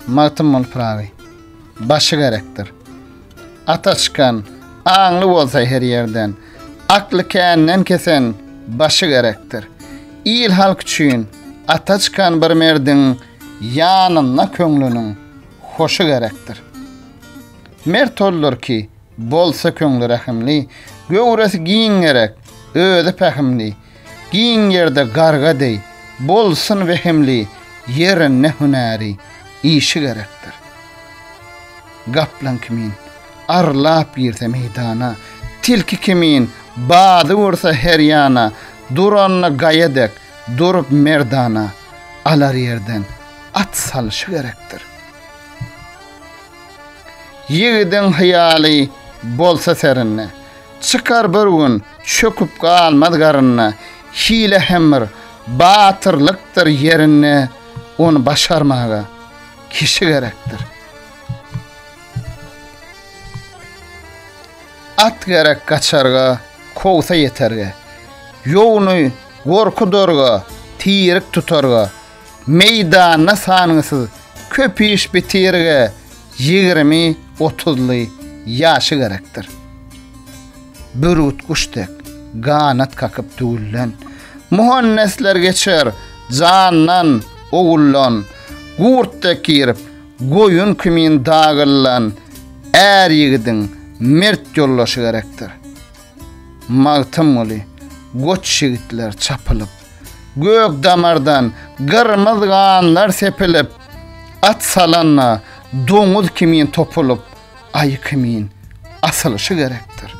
Magtymguly Pyragy. Başy gerekdir. Ata çykan, aňly bolsa her ýerden, akly känden kesen başy gerekdir. Il halk üçin ata çykan bir merdiň ýanynda köňlüniň hoşy gerekdir. Mert oldur ki, bolsa köňli rehimli, göwresi giň gerek, özi pähimli, Giň ýerde garga deý, bolsun wehimli, ýere ne hünäri, işi gerekdir. Gaplaň kimin, arlap girse meýdana, tilki kimin, bady ursa her ýana, duranda gaýa dek, durup merdana, alar ýerden, at salşy gerekdir. Ýigidiň hyýaly bolsa serinde. Çykar bir gün, çöküp galmaz garynda, Hile hem bir batyrlykdyr ýerinde, Ony başarmaga kişi gerekdir. At gerek gaçarga, kowsa ýeterge, Ýowuny gorky dorga, tirik tutarga, Meýdanda sangysyz köp iş bitirige ýigrimi, otuzly ýaşy gerekdir. Bürgüt guş dek, ganat kakyp tüwülen. Muhannesler geçer jandan, owuldan. Gurt dek girip, goýun kimin dagylan är ýigidiň mert ýoldaşy gerekdir. Magtymguly, Goç ýigitler çapylyp, Gök damardan gyrmyz ganlar sepilip, At salanda doňuz kimin topulyp, Aýy kimin asylyşy gerekdir.